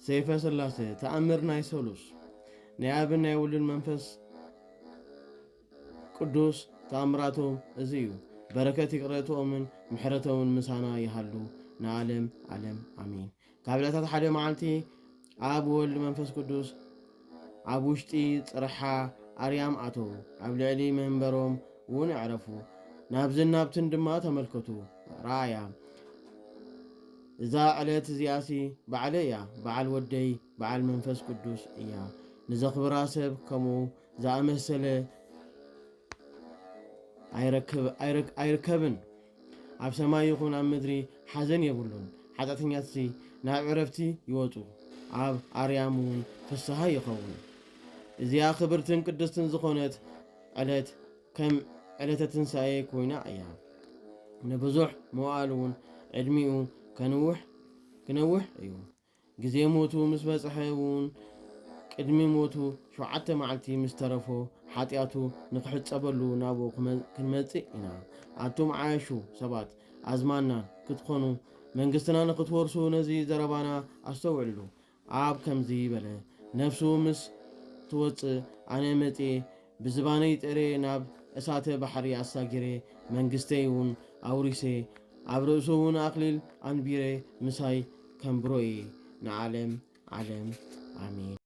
ሰይፈ ስላሴ ተኣምር ናይ ሰሉስ ናይ ኣብን ናይ ውልን መንፈስ ቅዱስ ተኣምራቶም እዚ እዩ። በረከት ይቅረትኦምን ምሕረቶምን ምሳና ይሃሉ ንዓለም ዓለም ኣሚን። ካብ ዕለታት ሓደ መዓልቲ ኣብ ወልድ መንፈስ ቅዱስ ኣብ ውሽጢ ፅርሓ ኣርያም ኣተዉ። ኣብ ልዕሊ መንበሮም እውን ኣዕረፉ። ናብዝን ናብትን ድማ ተመልከቱ። ራእያ እዛ ዕለት እዚኣሲ ባዕለይ እያ፣ በዓል ወደይ በዓል መንፈስ ቅዱስ እያ። ንዘኽብራ ሰብ ከምኡ ዝኣመሰለ ኣይርከብን። ኣብ ሰማይ ይኹን ኣብ ምድሪ ሓዘን የብሉን፣ ሓጢኣተኛትሲ ናብ ዕረፍቲ ይወጹ፣ ኣብ ኣርያም እውን ፍስሃ ይኸውን። እዚኣ ክብርትን ቅድስትን ዝኾነት ዕለት ከም ዕለተ ትንሳኤ ኮይና እያ። ንብዙሕ መዋእል እውን ዕድሚኡ ከንውሕ ክነውሕ እዩ። ግዜ ሞቱ ምስ በጽሐ እውን ቅድሚ ሞቱ ሸውዓተ መዓልቲ ምስ ተረፎ ሓጢኣቱ ንክሕጸበሉ ናብኡ ክንመጽእ ኢና። ኣቱም ዓያሹ ሰባት ኣዝማድና ክትኾኑ መንግስትና ንክትወርሱ ነዚ ዘረባና ኣስተውዕልሉ። ኣብ ከምዚ በለ ነፍሱ ምስ ትወጽእ ኣነ መጽየ ብዝባነይ ጠርየ ናብ እሳተ ባሕሪ ኣሳጊረ መንግስተይ ውን ኣውሪሰ ኣብ ርእሱ ውን ኣክሊል ኣንቢረ ምሳይ ከንብሮ እየ ንዓለም ዓለም ኣሜን።